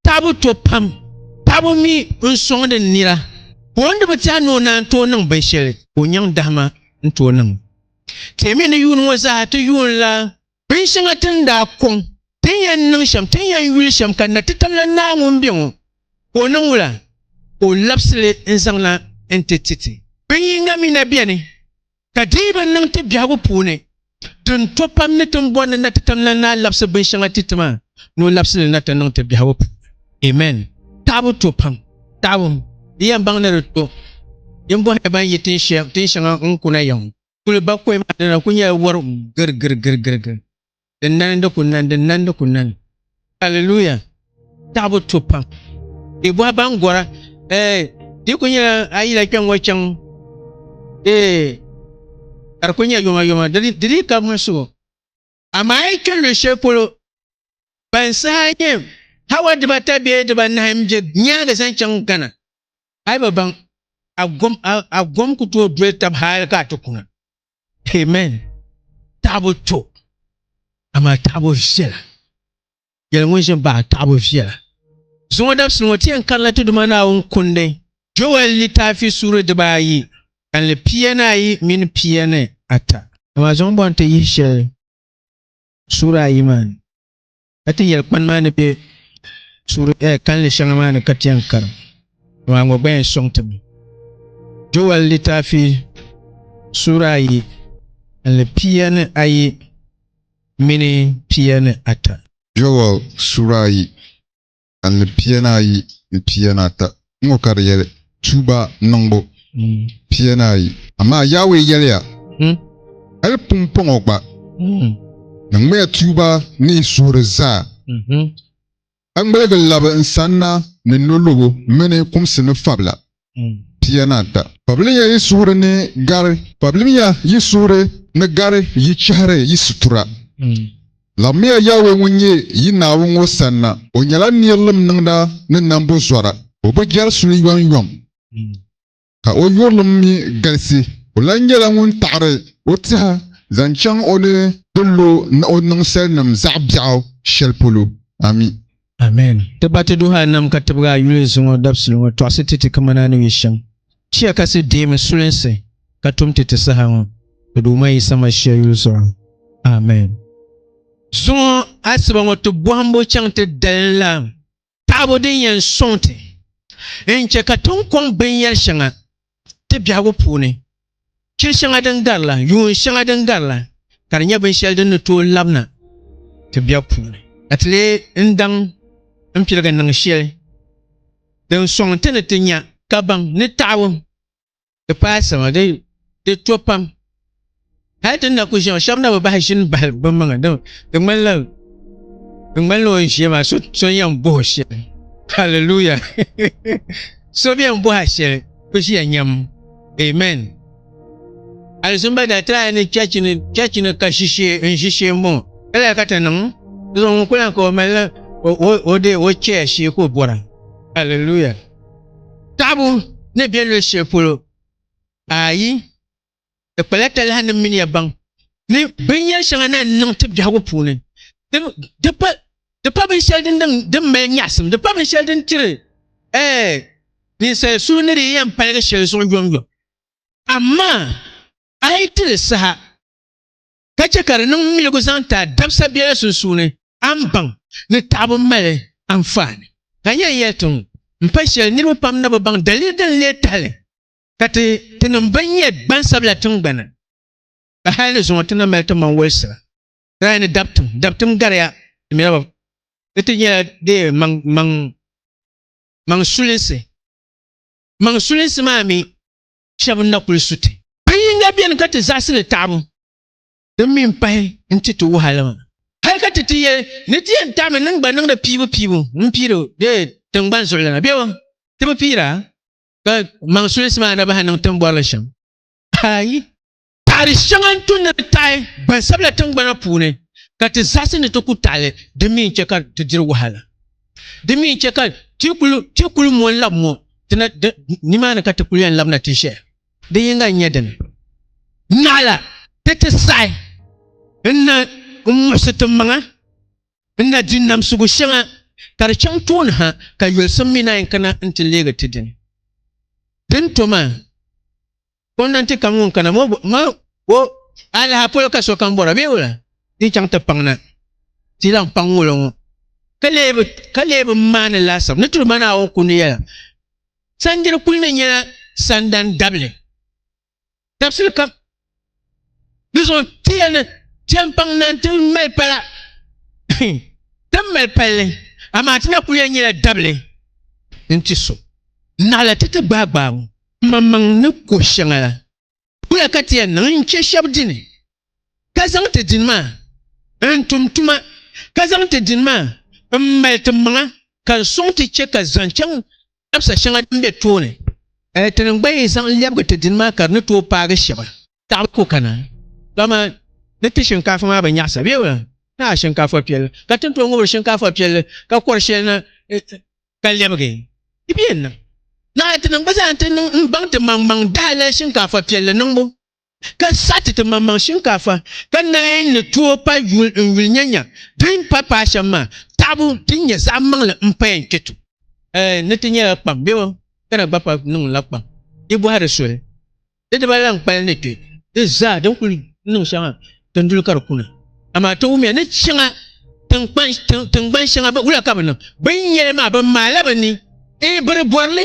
Taabo to pam. Taabo mi n-sɔŋdi n nira, ka o ni di bi tɛha ni o naan tooi niŋ binshɛli ka o nyaŋ dahima n-tooi niŋ. Ti mi ni yuun ŋɔ zaa ti yuunila binshɛŋa ti ni daa kɔŋ, ti ni yɛn niŋ shɛm, ti ni yɛn yuli shɛm, ka Natitalana Naa ŋun be ŋɔ, ka o niŋ wula? Ka o labisi li n-zaŋ na n-ti ti ti. Bin yiŋga mi na beni. Ka di yi bi niŋ ti biɛhigu puuni, tin to pam ni tin bɔri ni na ti tam la ni a labisi binshɛŋa ti ti maa, ni o labisi li na ti niŋ ti biɛhigu puuni. Amen! Taɣibu to pam. Taɣibu, di yɛn baŋ ni di to. Yin bɔhiri ban yi tin shɛŋa n-kuna ya ŋɔ, kuli ba kɔhima dina kuli nyɛla wɔr girigirigirigiri. Din nani di ku nani, din nani di ku nani. Alleluia! Taɣibu to pam. Di bɔhi ban gɔra, eh, di ku nyɛla a yila kpɛŋ ŋɔ chaŋ, eh, ka di ku nyɛ yoma yoma, di dii ka muɣisigu. Amaa a yi kpe luɣi shɛli polo, ban saha nyɛ hawa dibata bee dibanahi m-be nyaaŋa zaŋ chaŋ Ghana, a yi bi baŋ, a gom, a gom ku tooi doli tab hali ka a ti kuna. Amen. Taɣibu to, amaa taɣibu viɛla. Yɛli ŋun ʒin baɣa taɣibu viɛla. Zuŋɔ dabisili ŋɔ ti yɛn karila ti Duuma Naawuni kundi Joel litaafi suuri dibaa ayi, kanli pia ni ayi mini pia ni ata. Amaa zuŋɔ bɔŋ ti yihi shɛli suuri ayi maa ni. Ka ti yɛli kpani maa ni be suuri kalinli shɛŋa maa ni ka ti yɛn kara, amaa ŋɔ gba yɛn sɔŋ ti mi. Joɛl litaafi suuri ayi kalinli pia ni ayi mini pia ni ata. Joɛl suuri ayi ka ni pia ni ayi ni pia ni ata ŋɔ ka di yɛli tuuba niŋbu pia ni ayi. Amaa Yawɛ yɛliya, Hal pumpɔŋɔ gba, niŋmiya tuuba ni yi suhuri zaa, ka ŋmaligi labi n sanna ni nolɔbo mini kumsi ni fabila. pia ni ata. Pabilimiya yi suhuri ni gari Pabilimiya yi suhuri ni gari yi chɛhiri yi situra. Laɣimmiya Yawɛ ŋun nyɛ yi Naawuni ŋɔ sanna. O nyɛla nirilim niŋda ni nambu zɔra. O bi jɛri suli yɔŋyɔŋ, ka o yurilim mi galisi. O lan nyɛla ŋun taɣiri o tɛha zaŋ chaŋ o ni ti lo ni o niŋ salinim zaɣ biɛɣu shɛli polo. Ami. Amen. Ti ba ti duhi a nam ka tibigi a yuli zuŋɔ dabisili ŋɔ tɔɣisi ti ti kamani a ni yuli shɛm. Chiya kasi deemi sulinsi ka tum ti ti saha ŋɔ ti Duuma Yisa Mashia yuli zuɣu. Amen. Zuŋɔ asiba ŋɔ ti bɔhimbu chaŋ ti dalinlana taɣibu din yɛn sɔŋ ti n-che ka ti ni kɔŋ binyɛri shɛŋa ti biɛhigu puuni, chiri shɛŋa din gari la, yuun shɛŋa din gari la, ka di nyɛ binshɛli din ni tooi labina ti biɛbu puuni. Ka ti leei n daŋ n piligi niŋ shɛli din sɔŋ ti ni ti nya kabaŋ ni taɣibu ti paai sama di to pam. hali ti ni na ku ʒiɛm shɛba na bi bahi ʒini bahi bi maŋa di ŋmanila di ŋmanila o ni ʒiya maa so so yɛn bohi shɛli hallelujah so bɛ yɛn boha shɛli bi ʒiya nyɛm amen alizumba daa ti lahi ni chɛchi ni chɛchi ni ka ʒishee n ʒishee n bɔŋɔ ka lahi ka ti niŋ di zuɣu ŋun ku lahi ka o malila o de o chɛya shee ka o bɔra hallelujah taɣabu ni bɛ luɣu shɛli polo ayi Di kpala talahi ni mini ya baŋ ni binyɛr shɛŋa na n-niŋ ti biɛhigu puuni. Di pa binshɛli din mali nyaɣisim, di pa binshɛli din tiri ninsal suhu ni di yɛn paligi shɛli zuɣu yomyom. Amaa a yi ti li saha ka chɛ ka di niŋ miligu zaŋ ti a dabisa biɛla sunsuuni, a ni baŋ ni taɣibu mali anfaani. Ka n yɛn yɛli ti ŋɔ m-pa shɛli niriba pam ni bɛ baŋ daliri din leei tahili. ka ti tinim bɛn nyɛ gbansabila tiŋgbani, ka hal ni zuŋɔ ti na mali ti maŋ wolisira, tirahi ni dabtim, dabtim gariya ti mira ba, di ti nyɛla di maŋ maŋ sulinsi, maŋ sulinsi maa mi shɛb n-na kul su ti. Ka yiŋga beni ka ti zaɣisi li taɣibu, din mi m-pahi n-ti ti wuhi a la maa. Hal ka ti ti yɛli ni ti yɛn taɣimi niŋ gba niŋdi piibu piibu m-piiri di tiŋgbani zuɣulana bebo, ti bi piira? ka maŋ sulinsi maa na bahi niŋ tin bɔrili shɛm ayi taɣari shɛŋa n tu ni di taɣi gbansabila tingbana puuni ka ti zaɣisi ni ti ku taɣili di mi n-chɛ ka ti diri wahala di mi n-chɛ ka ti kuli ti kuli mo n-labi mo ti na nimaani ka ti kuli yɛn labina ti ʒɛya di yinga n-nyɛ dini naɣila ti ti saɣi n na n muɣisi ti maŋa N na di namsigu shɛŋa ka di chaŋ tooni ha, ka yolisim mi naan yi kana nti leegi ti dini. Di ni to maa, gomnanti kam ŋun kana maa o alaha polo ka sokam bɔra bee wula? Di chaŋ ti paŋ na, ti lan paŋ ŋulo ŋɔ, ka lee bi maani laasabu ni Duuma Naawuni kundi yɛla, Sandiri kuli ni nyɛla sandan dabili. dabisili kam di zuɣu tiya ni chɛmpaŋ na ti mali pala ti mali palli amaa ti na ku yɛn nyɛla dabili n ti so naɣila ti ti gbaai gbaai ŋɔ maŋmaŋ ni ko shɛŋa la kula ka ti yɛn niŋ n chɛ shɛb dini ka zaŋ ti dini maa n tum tuma ka zaŋ ti dini maa n mali ti maŋa ka n sɔŋ ti chɛ ka zaŋ chaŋ Dabisa shɛŋa din be tooni, ti ni gba yi zaŋ lɛbigi ti dini maa ka di ni tooi paagi shɛba. Taɣibu ku kana, dama ni ti shinkaafa maa bi nyaɣisa bee? Naa shinkaafa piɛlli ka ti ni tooi ŋubiri shinkaafa piɛlli ka kɔri shɛli na ka lɛbigi? Di bi yɛn niŋ. Naa ti ni gba zaa ti niŋ m-baŋ ti maŋmaŋ dahalali shinkaafa piɛlli niŋbu. ka sa ti ti maŋmaŋ shinkaafa ka naai ni tooi pa yuli n yuli nyanya din pa paai shɛm maa taɣibu din nyɛ zaɣ maŋli n paya n-kpe tu. Ɛɛn ni ti nyɛla kpaŋ bɛ o ka na gba pa niŋ la kpaŋ di bɔhiri soli di diba lan kpali ni kpe di zaa din kuli niŋ shɛŋa Ti ni duli ka di kuna, amaa ti wumiya ni shɛŋa tiŋgbani shɛŋa bɛ wula ka bɛ niŋ. Bɛ ni nya li maa, bɛ maala bɛ ni. Ee, bɛ di bɔri li,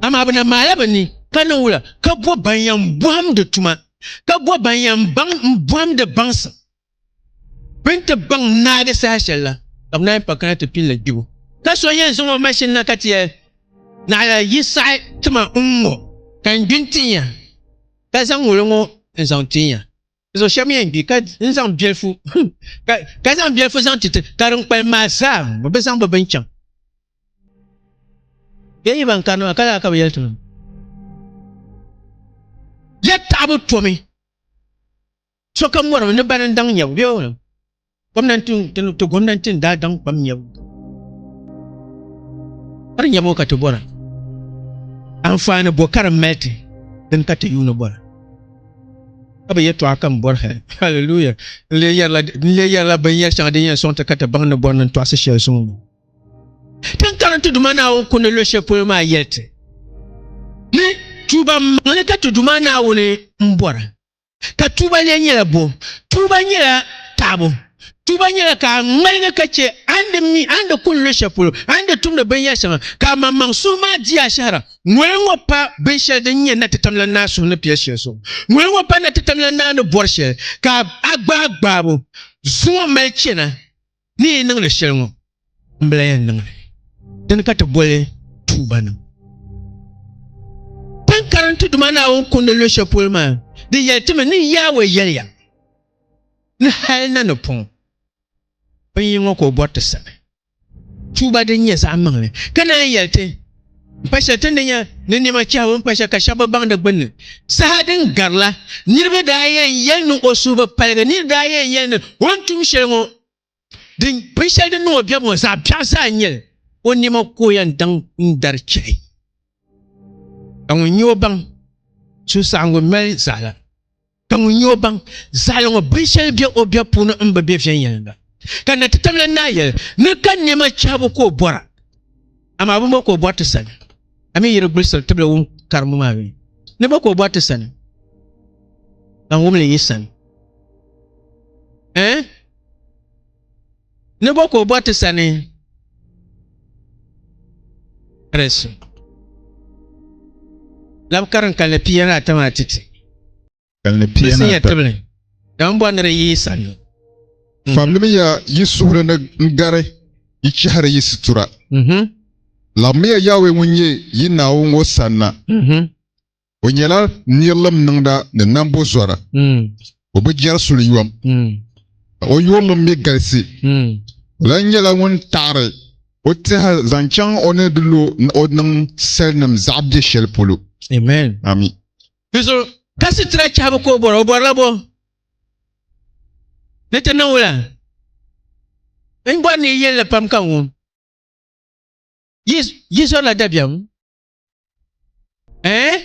amaa bɛ na maala bɛ ni. Ka niŋ wula? Ka bo ban yɛn bɔhimdi tuma, ka bo ban yɛn baŋ m-bɔhimdi baŋsim bɛ ni ti baŋ naagi saha shɛli la, ka bɛ naai pa kana ti pin li gbibu. Ka so yɛn zaŋ o mashin na ka ti yɛli, Naɣila, yi saɣi tima n-ŋɔ, ka n gbi n-tinya, ka zaŋ ŋuli ŋɔ n-zaŋ ti n ya. Zo shɛm yɛn gbi ka n zaŋ bilifu ka zaŋ bilifu zaŋ ti ti ka din kpalim maa zaa bi zaŋ bi bini chaŋ. Bɛ yi ban karini maa ka lala ka bɛ yɛli ti ma. Ya taɣibu tomi sokam mɔrimi ni bani n-daŋ nyɛbu bee? ti gomnanti n daa daŋ kpam nyɛbu kari nyɛbu ka ti bɔra anfaani bɔ ka di mali ti din ka ti yuuni bɔra ka bi yɛtɔɣa kam bɔri hali haleluya n lee yɛrila binyɛri shɛŋa din yɛn sɔŋ ti ka ti baŋ ni bɔri ni n tɔɣisi shɛli suŋ ŋɔ ti ni karinti Duuma Naawuni kundi luɣ shɛli polo maa yɛli ti ni tuuba maŋli ka ti Duuma Naawuni m-bɔra Ka tuuba lee nyɛla bɔ? Tuuba nyɛla taɣibu. Tuuba nyɛla ka a ŋmaligi ka chɛ a ni di mi a ni di kuni luɣ shɛli polo, a ni di tumdi binyɛr shɛŋa, ka amaŋmaŋ suhu maa di ashɛhira. Ŋoli ŋɔ pa binshɛli din nyɛ natitamlan naa suhu ni piɛl shɛli zuɣu. Ŋoli ŋɔ pa natitamlan naa ni bɔri shɛli, ka a gbaai gbaabu zuŋɔ mali chana. Ni yi niŋ li shɛli ŋɔ, m bi lan yɛn niŋ li. Dini ka ti boli tuuba niŋ? Tin karim ti Duuma Naawuni kundi luɣ shɛli polo maa, di yɛli ti mi ni Yawɛ yɛliya ni hal na ni pɔŋ binyini ŋɔ ka o bɔri ti sani tuuba din nyɛ zaɣ maŋli, ka naan yɛli ti, Pa shɛli ti ni nya ni nɛma chɛhigu n-pa shɛli ka shɛba bi baŋ di gbunni. Saha din garila, niriba daa yɛn yɛli ni o suhu bi paligi, niriba daa yɛn yɛli ni o ni tum shɛli ŋɔ, binshɛli din niŋ o biɛbu ŋɔ zaɣ biɛɣu zaa n-nyɛ li, o nɛma ka o yɛn daŋ n-dari chɛhi. Ka ŋun nya o baŋ suhusaɣiŋgu mali zaɣila. Ka ŋun nyɛ o baŋ zaɣili ŋɔ binshɛli be o biɛb puuni m-bi be viɛnyɛliŋga. Ka Natitabilin Naa yɛli ni ka nɛma chahibu ka o bɔra, amaa bɛ mi ka o bɔri ti sani, a mi yi di gbulisiri tibili wum kariŋ maa mi ni bɛ ka o bɔri ti sani, ka n wum li yi sani. Ɛɛn? Ni bɔ ka o bɔ ti sani? Rɛsu. Lab karin kalli pia ni ata maa ti ti. Kalli pia ni ata. Bisinya tibili. Dam bɔ ni di yi sani. Fabilimiya yi suhuri ni n-gari yi chɛhiri yi situra. Labimiya Yawɛ ŋun nyɛ yi Naawuni ŋɔ sanna. O nyɛla nirilim niŋda ni nambo zɔra. O bi jɛri suliyom, ka o yurilim mi galisi. O lan nyɛla ŋun taɣiri o tɛha zaŋ chaŋ o ni di lo ni o niŋ salinim zaɣ biɛ shɛli polo. Amin. Di zuɣu ka sitira chɛhibu ka o bɔra, o bɔrila bɔ ni ti niŋ wula? N bɔri ni yi yɛli li pam ka n wum yi zɔrila dabiɛm. Eh?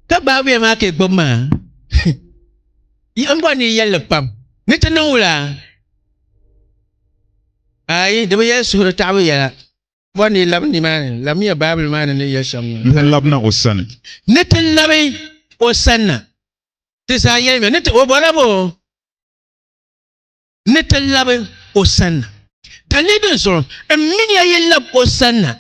Ka baabuya maa ka gbubi maa. Yiɣim bɔ ni yɛlli pam. Ni ti niŋ wula? Ayi, di bi yɛli suhuri taɣibu yɛla. Bɔ ni yi labi nimaani, labimiya Baabuli maa ni ni yɛli shɛm ŋɔ. Ni ti labina o sani. Ni ti labi o sanna. Ti zaa yɛlimiya. Ni ti, o bɔla bɔ? ni ti labi o sanna. Dali di zuɣu n mini ya yi lab o sanna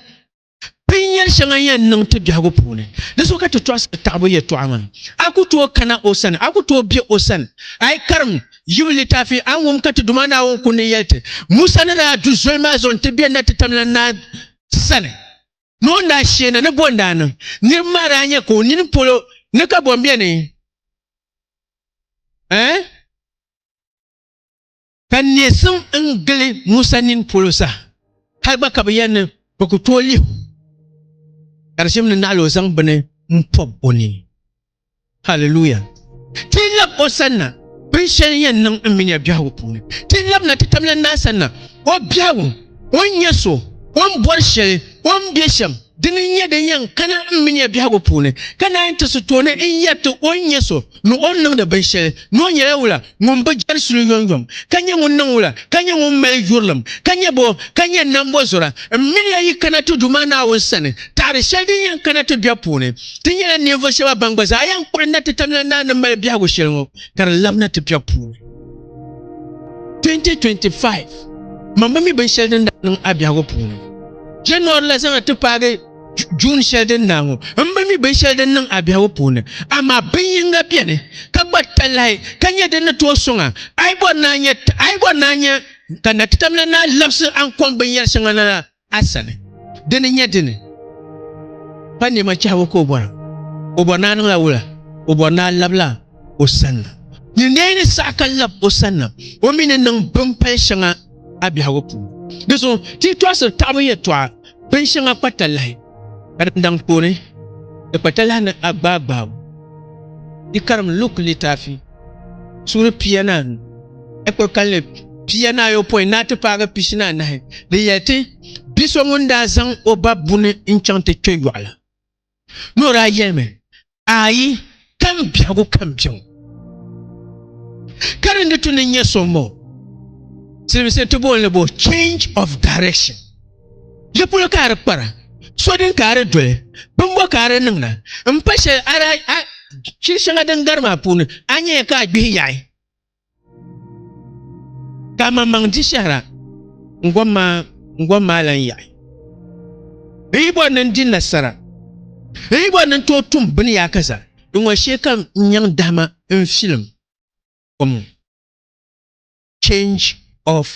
binyɛr shɛŋa n yɛn niŋ ti biɛhigu puuni. Di zuɣu ka ti tɔɣisiri taɣibu yɛtɔɣa ŋɔ ni, A ku tooi kana o sani, a ku tooi be o sani. A yi karim Yibu litaafi, a ni wum ka ti Duuma Naawuni ku ni yɛli ti, Musa ni daa du zoli maa zuɣu nti be natitamla naa sani ni o ni daa shee na ni bɔ n-daa niŋ niriba maa daa nya ka o nini polo ni ka bɔ m-beni? Ɛɛn? Ka nesim n gili Musa nini polo sa, hal gba ka bi yɛli ni bi ku tooi lihi o, ka di shim ni naɣila o zaŋ bini n pɔb o nini. Haliluya! Ti yi lab o sanna binshɛli n yɛn niŋ n mini ya biɛhigu puuni, ti yi labina ti tamlan maa sanna, o biɛhigu, o ni nyɛ so, o ni bɔri shɛli, o ni be shɛm, Dini n-nyɛ din yɛn kana m mi nya biɛhigu puuni, ka naanyi ti su tooni n-yɛri ti o ni nyɛ so ni o ni niŋdi binshɛli, ni o nyɛla wula ŋun bi jɛri suli yɔŋyɔŋ, ka nyɛ ŋun niŋ wula, ka nyɛ ŋun mali yurilim, ka nyɛ bɔ ka nyɛ nambɔzɔra? M mini ya yi kana ti Duuma Naawuni sani, taɣiri shɛli din yɛn kana ti biɛbu puuni. Ti nyɛla ninvuɣ shɛba ban gba zaa yɛn kpuɣi na ti tamina naa ni mali biɛhigu shɛli ŋɔ, ka di labina ti biɛbu puuni. 2025 Mama mi binshɛli din daa niŋ a biɛhigu puuni. January la zaŋya ti paagi June shɛli din na ŋɔ, m bi mi binshɛli din niŋ a biɛhigu puuni, amaa bin yiŋga beni ka gba talahi ka nyɛ din ni tooi sɔŋa, a yi bɔri ni a nya ka Nakitamla naa labisi a ni kɔŋ binyɛr shɛŋa na la a sani. Di ni nya dini? Pa nɛma chɛhigu ka o bɔra. O bɔri ni a niŋla wula? O bɔri ni a labila o sanna. Nyin daa yi ni saɣi ka lab o sanna, o mi ni niŋ bimpal shɛŋa. a biɛhigu puuni. Di zuɣu ti yi tɔɣisiri taɣibu yɛtɔɣa binshɛŋa kpatalahi ka di daŋ kpooni di kpatalahi ni agbaagbaabu, yi karim Luk litaafi suuri pianaanu ekpiri kalinli pianaayopɔin ni a ti paagi pishinaanahi din yɛli ti, Bi so ŋun daa zaŋ o ba buni n-chaŋ ti kpe yɔɣu la, Ni o daa yɛlimi, Ayi, kali n biɛhigu ka n biɛŋ. Ka di ni tu ni nyɛ so m-bɔ siliminsili ti booni bo change of direction. Yi polo ka a di kpara, so din ka a di doli, bimbɔ ka a di niŋda, m-pa shɛli a daa chiri shɛŋa din gari maa puuni, a nyɛya ka a gbihi yaɣi. Ka maŋmaŋ di shɛhira n-gom maa n-gom maa lan yaɣi. N yi bɔri ni n di nasara, n yi bɔri ni n tooi tum bini yaa ka zaa, di ŋɔ shee ka n nyaŋ dahima n-filim kom ŋɔ. Change of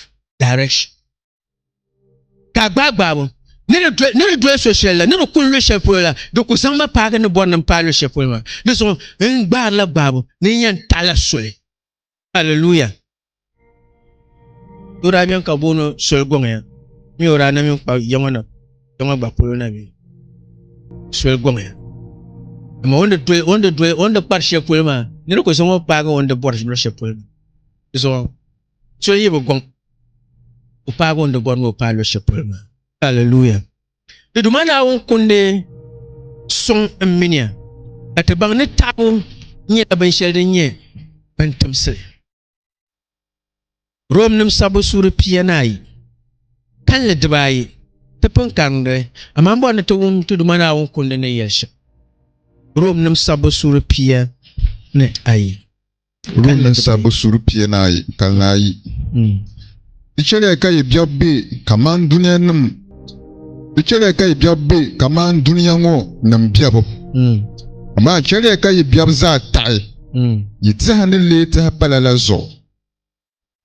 direction. ka a gbaai gbaabu ni di doli so shɛli la ni di kuli lu shɛli polo la di ku zaŋ ma paagi ni bɔri ni n paai lu shɛli polo maa di zuɣu n gbaarila gbaabu ni n yɛn taɣila soli aleluya doo daa bɛni ka booni soli gɔŋya mi o daa na mini kpa yaŋɔ na yaŋɔ gba polo na mi soli gɔŋya amaa o ni doli o ni doli o ni kpari shɛli polo maa ni di ku zaŋ o paagi o ni bɔri lu shɛli polo maa di zuɣu So n-yi bi gɔŋ o paagi o ni di bɔri ni o paai luɣishɛli polo maa. Alleluia! Di Duuma Naawuni kundi suŋ n miniya ka ti baŋ ni taabu nyɛla binshɛli din nyɛ bintimsili. Romnim sabbu suuri pia ni ayi, kalinli diba ayi ti pun karim di, amaa m bɔri ni ti wum ti Duuma Naawuni kundi ni yɛli shɛm. Romnim sabbu suuri pia ni ayi. Rum ni sabbu suri piɛnaayi ka naa yi. Di chɛliya ka yi biɛɣu be kaman dunianim Di chɛliya ka yi biɛɣu be kaman dunia ŋɔ nim biɛbu, amaa chɛliya ka yi biɛbu zaa taɣi yi tɛha ni leei tɛha pala la zuɣu.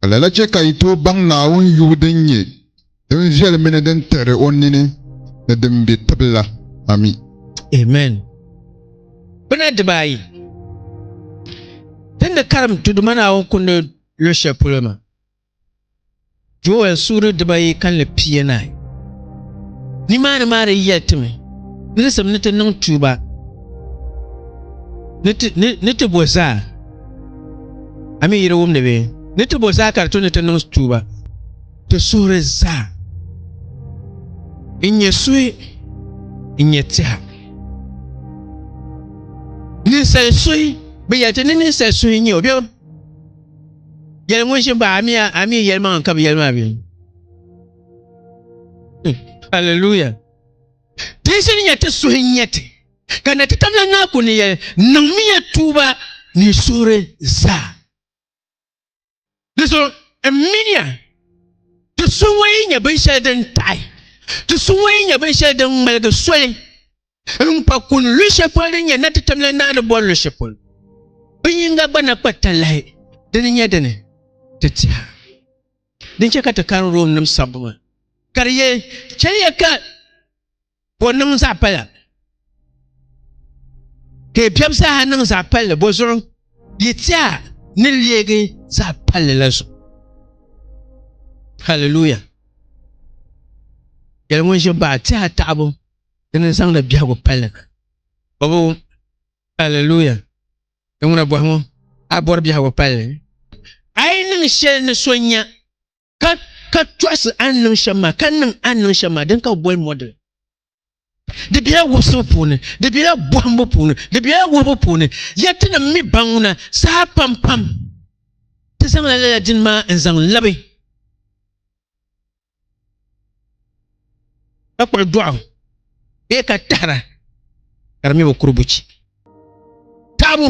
Ka lala chɛ ka yi tooi baŋ Naawuni yubu din nyɛ din viɛli mini din tihiri o nini ni din be tibu la. Ami. Amen. Gbuna diba ayi ti ni karim Duuma Naawuni Kundi luɣ shɛli polo maa, Joel suuri diba ayi kalinli pia naai. Nimaani maa di yɛli ti mi nirisim ni ti niŋ tuuba ni ti bo zaa. A mi yi di wumdi bee? Ni ti bo zaa ka di tu ni ti niŋ tuuba. Ti suhuri zaa n-nyɛ suhi, n-nyɛ tɛha. Ninsal suhi, bɛ yɛli ti ni ninsal suhi n-nyɛ o bɛ o yɛli ŋun ʒini pahi amia, a mi yɛlimaŋli ka bɛ yɛli maa bee? Hallelujah! Ti yi ʒini nyɛ ti suhi n-nyɛ ti. ka na ti tamya ŋaa ku ni yɛn niŋmiya tuuba ni suhuri zaa. Di zuɣu n miniya ti suhuyee nyɛ binshɛli din taɣi, ti suhuyee nyɛ binshɛli din ŋmaligi soli n kpa kuni lu shɛli polo din nyɛ na ti tamya ŋaa ni bɔri lu shɛli polo. Bin yinga gba na kpa talahi dini nyɛ dini ti tiha. Din chɛ ka ti kani Romnim sabbu maa ka di yɛli, Chɛliya ka Ka o niŋ zaɣ pala ka yi biɛbu zaaha niŋ zaɣ palli bo zuɣu yi tiɛha ni leegi zaɣ palli la zuɣu haliluya yɛli ŋun ʒi baɣa tiɛha taɣabu di ni zaŋdi biɛhigu palli na bobu haliluya di ŋuna bɔhi ŋɔ a bɔri biɛhigu palli a yi niŋ shɛli ni so nya ka ka tɔɣisi a ni niŋ shɛm maa ka niŋ a ni niŋ shɛm maa din ka bi boli model di bela wubisibu puuni di bela bɔhimbu puuni di bela wuhibu puuni ya ti ni mi baŋuna saha pam pam ti zaŋla lala dini maa n zaŋ labi ka kpuɣi dɔɣu bee ka tahira ka di mi bi kuri buchi taɣabu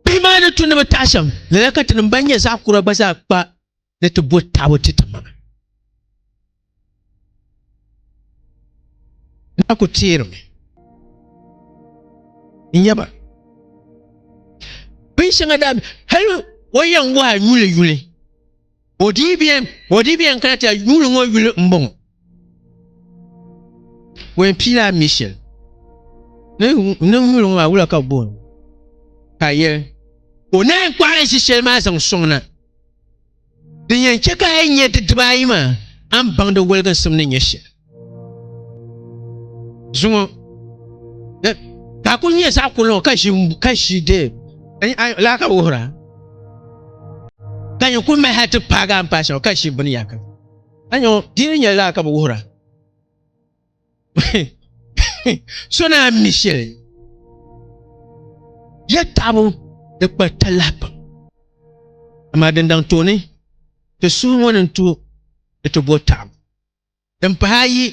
bihi maa ni tu ni bi taɣa shɛm lala ka tinim ban nyɛ zaɣ kura gba zaa kpa ni ti bo taɣabu ti ti maŋa na ku teerimi n nyɛba bin shɛŋa daa hali o yɛn waai yuli yuli Odibiɛn kana ti a yuuli ŋɔ yuli m-bɔŋɔ. Wɛn piila a Michel ni niŋ yuli ŋɔ maa wula ka booni ka a yɛli ka o naan kɔɣili ʒi shɛli maa zaŋ sɔŋ na. Din yɛn chɛ ka a yi nya di dibaayi maa, a ni baŋ di waliginsim ni nyɛ shɛli. zuŋɔ eh, ka ku nyɛ zaɣ kuli ŋɔ ka ʒi ka ʒi dee eh, laa ka wuhira ka nyɛ ku maha ti paagi a paasa ka ʒi bini yaka a nyɛ dini nyɛ laa ka bi wuhira so na mi shɛli ya taɣabu di kpa talahi pam amaa din daŋ tooni ti suhu ŋɔ ni tu ni ti bo taɣabu din pahi ayi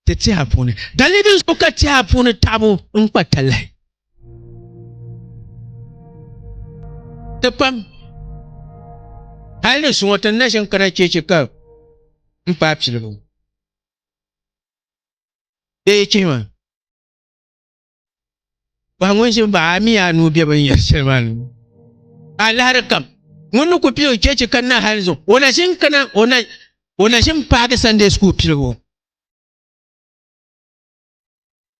ti tiha puuni. Dali din zuɣu ka tiha puuni taɣibu n kpa talahi. Ti pam. Hali ni suŋɔ ti ni na ʒin kana cheechi ka m paai piligu. Bee yi chihi ma. Paɣa ŋun ʒi baɣa a mii anuu bɛ bin yɛri shɛli maa ni a lahari kam ŋun ni ku pili o chɛchi ka na hali zuɣu o na ʒin kana o na ʒin paagi sande skuul piligu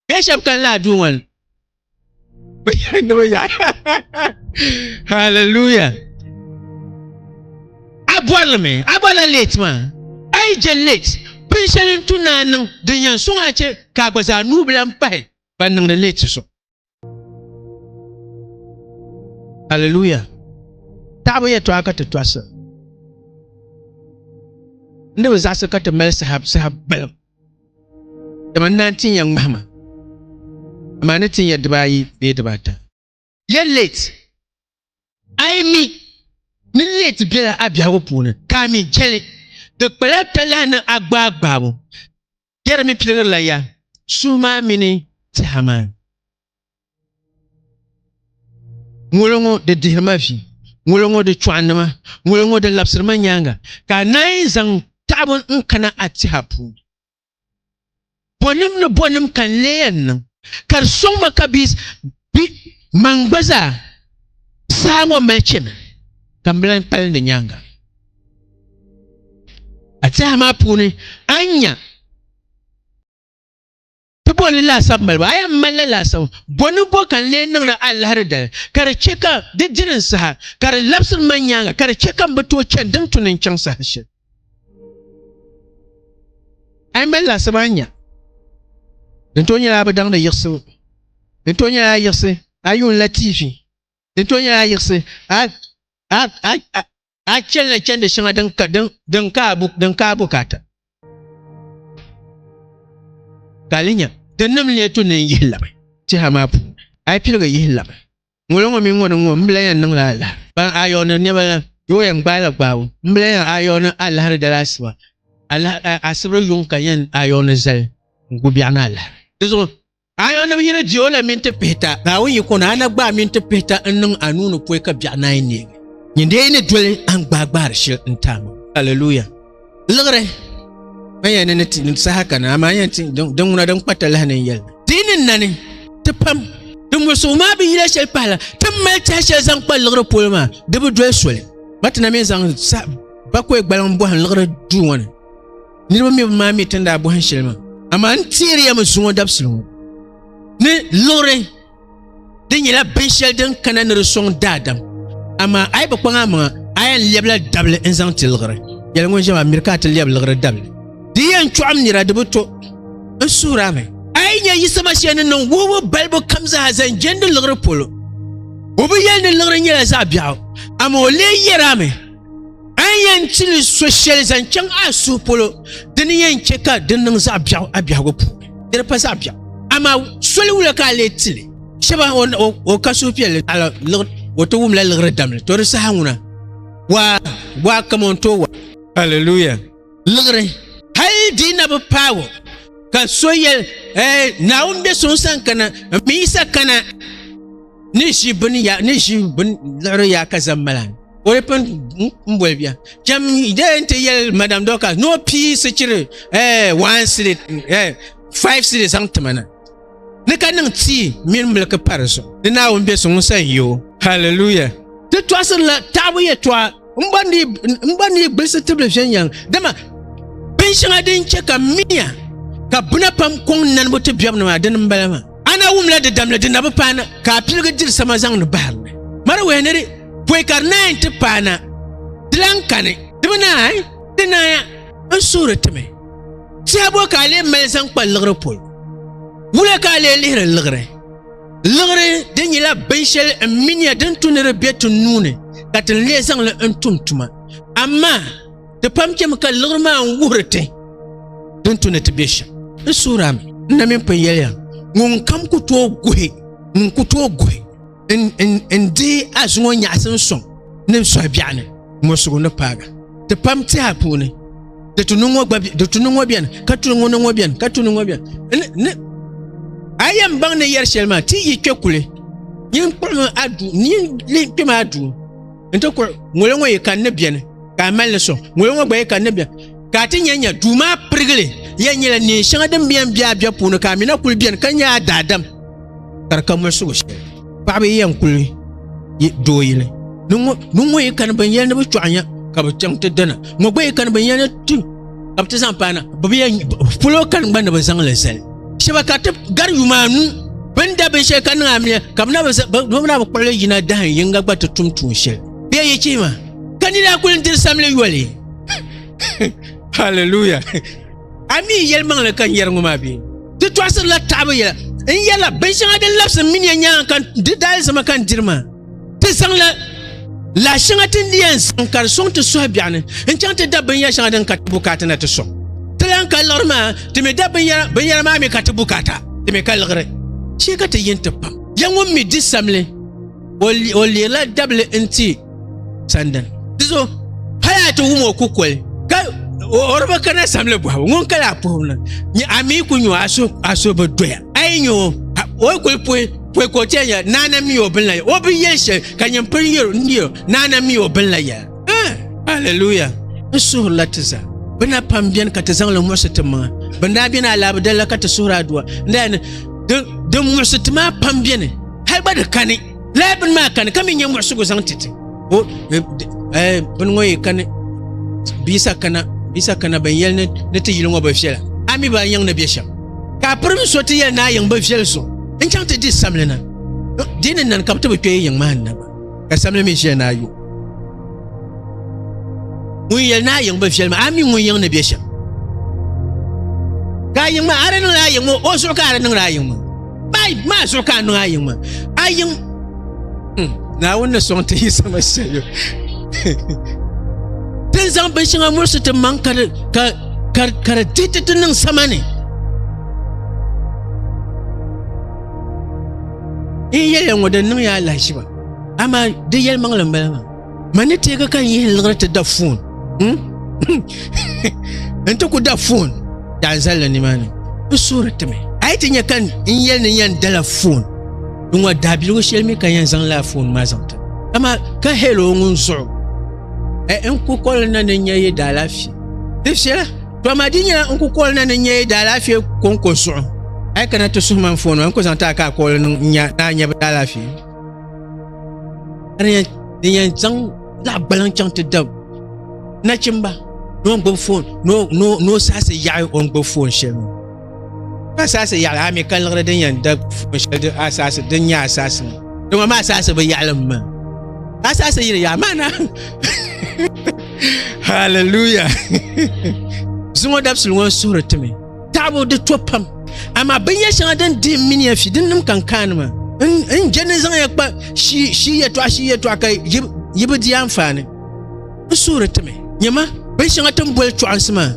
bɛ shɛb kan laa duu ŋɔ ni bi yɛri ni bi yaɣi haleluya a bɔrili mi a bɔla leet maa a yi je leet bin shɛli n tu ni a niŋ din yɛn suŋ a chɛ ka a gba zaa nuu bi lan pahi ban niŋdi leeti so. Aleluya! Taɣibu yɛtɔɣa ka ti tɔɣisira. N ni bi zaɣisi ka ti mali saha saha balibu, dama n naan tin ya ŋmahima, amaa ni tin ya dibaayi bee dibaata. Yɛl late, A yi mi ni late bela a biɛhigu puuni ka a mi jɛli, di kpala talahi ni a gbaai gbaabu. Yɛri mi piligirila ya suhu maa mini tɛha maa. Ŋolo ŋɔ di dihiri ma vi, ŋolo ŋɔ di chɔɣindi ma, ŋolo ŋɔ di labisiri ma nyaaŋa, ka a naanyi zaŋ taɣibu n-kana a tɛha puuni. Bɔnim ni bɔnim ka n lee yɛn niŋ, ka di sɔŋ ma ka bɛ bi maŋ gba zaa? Saha ŋɔ mali chɛmi ka m bi lan kpalim di nyaaŋa. A tɛha maa puuni a ni nya ti bɔni laasabu mali ba, a yɛn malila laasabu. Bɔ ni bɔ ka n lee niŋdi a lahiri dali, ka di chɛ ka di dini n saha, ka di labisiri ma nyaaŋa, ka di chɛ ka m bi tooi chani din tu ni n chaŋ saha shɛli? a yi mali laɣisib a nya din too nyɛla bi daŋdi yiɣisibu din too nyɛla yiɣisi a yuun la tv din too nyɛla yiɣisi a chɛlila chɛndi shɛŋa din ka a bukaata ka a li nya di nim lee tu ni n yihi labi tɛha maa puuni a yi piligi yihi labi Ŋolo ŋɔ mini ŋɔ ni ŋɔ, m bla yɛn niŋla alahi. Ban a yɔɔni nɛba la, yoo yɛn gbaai la gbaabu. M bla yɛn a yɔɔni alahiri dali asiba. Alahi a asibri yuŋ ka yɛn a yɔɔni zali n gu biɛɣu ni alahiri. Di zuɣu, a yɔɔni bi yiri di o la mini ti pihita. Naawuni yi kɔni a na gbaai mini ti pihita n niŋ a nuu ni pɔi ka biɛɣu naai neegi. Nyin dee yi ni doli a n gbaai gbaari shili n ti a maŋ. Aleluya! liɣiri a yɛn ni ti saha kana amaa yɛn ti din ŋuna din kpata lahi ni yɛli ti ni nani ti pam din musuɣu maa bi yila shɛli pahala ti mali tiɛha shɛli zaŋ kpa liɣiri polo maa di bi doli soli matina mi zaŋ bakoe gbaliŋ bɔhim liɣiri duu ŋɔ ni niriba mi bi maa mi tin daa bɔhim shɛli maa amaa n tihiri ya mi zuŋɔ dabisili ŋɔ ni liɣiri Di nyɛla binshɛli din kana ni di sɔŋ daadam, amaa a yi bi kpaŋ a maŋa, a yɛn lɛbila dabili n-zaŋ ti liɣiri. Yɛli ŋun ʒiɛm a miri ka a ti lɛbi liɣiri dabili. Di yɛn chɔɣim nira di bi to n suhir a mi. A yi nya yisima shɛli ni niŋ wuhibu balibu kam zaa zaŋ jɛndi liɣiri polo, o bi yɛli ni liɣiri nyɛla zaɣ biɛɣu, amaa o lee yɛr a mi. A ni yɛn chili so shɛli zaŋ chaŋ a suhu polo di ni yɛn chɛ ka di niŋ zaɣ biɛɣu a biɛhigu puuni di di pa zaɣ biɛɣu amaa soli wula ka a lee tili shɛba o ka suhupiɛlli ala o ti wumla liɣiri damli to di saha ŋuna waa waa kaman tooi wa Hallelujah liɣiri hali di na bi paagi ka so yɛli naawuni bɛ so n san kana n mi yisa kana ni ʒi bini ya ni ʒi bini liɣiri ya ka zaŋ mala o di pun n boli bia chɛm de n ti yɛli madam dɔkas ni o pii sichiri one city five city zaŋ ti mana ni ka niŋ tii mini miliki pa di zuɣu ni naawuni bɛ so ŋun san yi o haleluya ti tɔɣisirila taɣabu yɛtɔɣa n gba ni gbilisi tibili viɛnyɛliŋ dama bin shɛŋa din chɛ ka miya ka buna pam kɔŋ nanibu ti biɛbu ni maa dini n bala maa a na wumla di damli di nabu paana ka a piligi diri sama zaŋdi baharili mari wɛhi ni di pɔi ka di naan ti paana di lan kani di bi naan ti naaya n suhuri ti mi Tɛbo ka a lee mali zaŋ kpa liɣiri pɔi? Wula ka a lee lihiri liɣiri? Liɣiri di nyɛla binshɛli n miniya din tu ni di bɛ ti nuuni ka ti lee zaŋli n tum tuma. Amaa ti pam chɛmi ka liɣiri maa n wuhiri ti din tu ni ti bɛ shɛm. N suhirami, n na mini pun yɛliya, ŋun kam ku tooi guhi ŋun ku tooi guhi. n di azuŋɔ nyaɣasi n sɔŋ ni n sɔhi biɛɣu ni mɔsigu ni paaga ti pam tiha puuni di tuni ŋɔ gba di tuni ŋɔ biɛni ka tuni ŋɔ ni ŋɔ biɛni ka tuni ŋɔ biɛni ni a yɛn baŋ ni yɛri shɛli maa ti yi kpɛ kuli yin kpuɣimi a duu yin kpɛmi a duu n ti kuri ŋɔlo ŋɔ yi kan ni biɛni ka a mali ni sɔŋ ŋɔlo ŋɔ gba yi kan ni biɛni ka a ti nyɛ nyɛ duu maa pirigili yɛn nyɛla neen shɛŋa din biɛn bɛ a bɛ puuni ka a mina kuli biɛni ka nyɛ a daadam ka di ka muɣisigu shɛli paɣaba yɛn kuli yi doo yili ni ŋɔ yi kani bin yɛli ni bi chɔɣu nya ka bi chaŋ ti dana ŋɔ gba yi kani bin yɛli ni ti ka bi ti zaŋ paana bi bi yɛn polo kani gba ni bi zaŋli zali shɛba ka ti gari yuma anu bin da binshɛli ka niŋ amiliya ka bi na bi na bi kpuɣili yina dahin yinga gba ti tum tuun shɛli bee yi chihima ka nira kuli diri samili yoli hallelujah A mi yɛlimaŋli ka n yɛri ŋɔ maa bee? Ti tɔɣisirila taɣibu yɛla. N yɛla binshɛŋa din labisi m mini ya nyaaŋa ka di daalizama ka n diri maa. Ti zaŋla lahi shɛŋa ti ni di yɛn zaŋ ka di sɔŋ ti suhu biɛɣu ni n-chaŋ ti da binyɛr shɛŋa din ka ti bukaata na ti sɔŋ. Ti lan ka liɣiri maa, ti mi da binyɛra maa mi ka ti bukaata, ti mi ka liɣiri. Chɛ ka ti yin ti pam ya ŋun mi di samli. o leerila dabili n ti sandani di zuɣu hali a ti wum o kukoli ka o bi kana samli bɔhabu ŋun kala a puhibu na nyɛ a mii ku nyo a so bi doya a yi nyo o kuli puhi puhi ka o tiɛn yɛli naana mi o bin la o bi yɛli shɛli ka nyɛ pili yɛro n yɛro naana mi o bin la yɛli haleluya n suhurila ti zaa bi na pam biɛni ka ti zaŋli muɣisi ti maŋa bin daa biɛni a laa bi dalila ka ti suhuri aduwa n daa ni din muɣisi ti maa pam biɛni hali gba di kani laa bini maa kani ka mi nyɛ muɣisigu zaŋ ti ti o eh, eh, bini ŋɔ yi kani bisa kana bisa kana ban yɛli ni ti yili ŋɔ bi viɛla a mi ba yiŋ ni bɛ shɛm ka pirim so ti yɛli ni a yiŋ bi viɛli so n chaŋ ti di samlina eh, di ni nani ka bi ti bi kpɛ yiŋ maa ni na ka samli mi ʒiya ni a yo ŋun yɛli ni a yiŋ bi viɛli maa a mi ŋun yiŋ ni bɛ shɛm ka a yiŋ maa a di niŋdi a yiŋ maa o zuɣu ka a di niŋdi a yiŋ maa bai maa zuɣu ka a niŋ a yiŋ maa a yiŋ naawuni ni sɔŋ ti yi sama shɛli din zaŋ bin shɛŋa murisi ti maŋ ka di ka ka ka di dihi ti ti niŋ sama ni N yɛliya ŋɔ di niŋ yaa lahiʒiba amaa di yɛli maŋli m-bala maa ma ni teegi ka n yihi liɣiri ti da foon hmm? n ti ku da foon daa zalila nimaani n suhuri timi a yi ti nya ka n yɛli ni yɛn dala foon n ŋɔ daabiligu shɛli mi ka yɛn zaŋ laa foon maa zaŋ ti amaa ka hɛli o ŋun zuɣu e, n ku kɔli na ni n nya yi daalaafee di viɛla To ma di nyɛla n ku kɔli na ni nyɛ daalaafee kɔŋko zuɣu a yi kana ti suhu man foon n ku zaŋ ti a ka a kɔli niŋ nya ni a nyɛ bi daalaafee din yɛn zaŋ zaɣ gbaliŋ chaŋ ti dab nachimba ni o gbubi foon ni o saɣasi yaɣi o ni gbubi foon shɛli asaasi yaɣali a mi ka liɣiri din yɛn da shɛli di asaasi din nyɛ asaasi ni dama maa asaasi bi yaɣali n ma ka asaasi yiri yaɣa maa na haleluya zuŋɔ dabisili ŋɔ suhuri timi taɣabu di to pam amaa binyɛ shɛŋa din dihi mini ya fi din nim kan kaani ma n jɛ ni zaŋ ya kpa shi yɛtɔɣa shi yɛtɔɣa ka yi bi di anfaani n suhuri ti mi. Nyɛma, bin shɛŋa ti ni boli chɔɣinsi maa,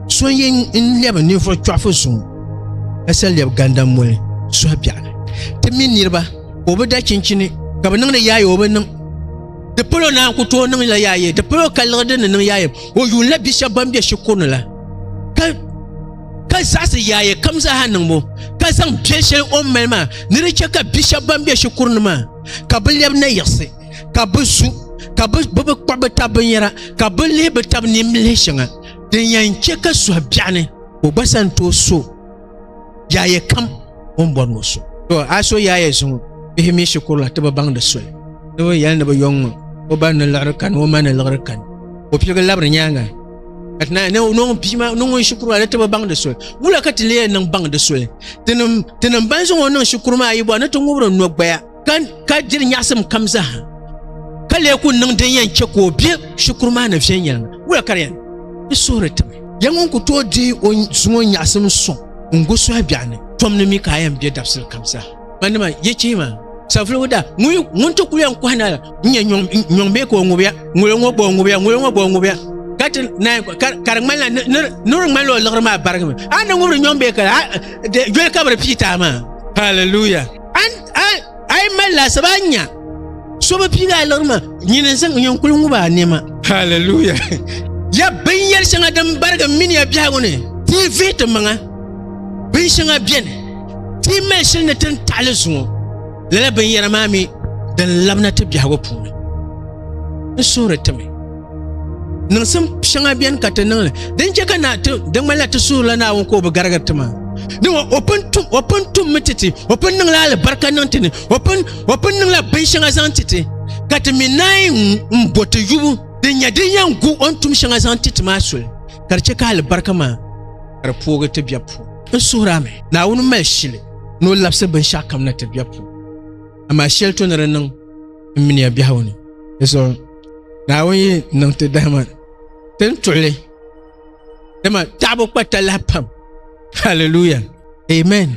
so n yɛn n lɛbi ninvuɣ chɔɣifu zuŋɔ ka sa lɛbi gandaŋ moli suhi biɛɣu ni. Ti mi niriba ka o bi da chinchini ka bi niŋdi yaaye o bi niŋ. Di palo naan ku tooi niŋla yaaye, di palo ka liɣi din ni niŋ yaaye. O yuunila bi shɛb ban be shikuru ni la, ka ka zaɣisi yaaye kam zaaha niŋbu, ka zaŋ biɛl shɛli o ni mali maa ni di chɛ ka bi shɛb ban be shikuru ni maa ka bi lɛbi nayiɣisi. ka bi su ka bi bi kpuɣi bi tabi binyɛra ka bi lihi bi tabi nimlihi shɛŋa din yɛn chɛ ka suhi biɛɣu ni ka o gba sani tooi so yaayɛ kam o ni bɔri ni o so to a so yaayɛ zuŋɔ bihi mii shikuru la ti bi baŋ di soli ni bi yɛli ni bi yɔŋ ŋɔ o ba ni liɣiri kani o ma ni liɣiri kani o piligi labiri nyaanga ka ti naan niŋ bia maa niŋ ŋun shikuru maa ni ti bi baŋ di soli wula ka ti leei niŋ baŋ di soli tinim tinim ban zaŋ o niŋ shikuru maa yi bɔ ni ti ŋubiri nɔgbaya ka diri nyaɣasim kam zaaha ka lee ku niŋ din yɛn chɛ ka o bɛ shikuru maa ni viɛnyɛliŋga wula ka di yɛn di suhuri tim ya ŋun ku tooi di o zuŋɔ nyaɣasim sɔŋ n gu suhi biɛɣu ni tom ni mi ka a yɛn bɛ dabisili kam zaa ma nima yɛ chee maa savuligu da ŋun ti ku yɛn kɔhi na la n nyɛ nyɔŋ bee ka o ŋubiya ŋolo ŋɔ gba o ŋubiya ŋolo ŋɔ gba o ŋubiya ka ti naan ka di ŋmani la ni di ŋmani la o liɣiri maa barigimi a ni ŋubiri nyɔŋ bee ka la joli ka bi di pii taa maa hallelujah a yi mali laasabu a nya so bi piigi a liɣiri ma nyini n zaŋ yɛn kuli ŋubi a niɛma haleluya ya binyɛri shɛŋa din barigi mini ya biɛhigu ni ti yi vihi ti maŋa bin shɛŋa bɛni ti yi mali shili ni tin taɣali zuŋɔ lala binyɛra maa mi din labina ti biɛhigu puuni n suhuri ti mi niŋsim shɛŋa bɛni ka ti niŋli din chɛ ka na ti di ŋmanila ti suhurila naawuni ka o bi garigiri ti maa ni o pun tum o pun tum mi titi o pun niŋla alibarika niŋ ti ni o pun o pun niŋla binshɛŋa zaŋ titi ka ti mi naai n bo ti yubu din nyɛ din yɛn gu o ni tum shɛŋa zaŋ titi maa soli ka di chɛ ka alibarika maa ka di poogi ti bɛ puuni n suhuri a mi naawuni mali shili ni o labisi binshɛɣu kam na ti bɛ puuni amaa shɛli to ni di niŋ n miniya biɛhagu ni naawuni yi niŋ ti dahima tin tuɣili dama taɣabu kpa talahi pam hallelujah amen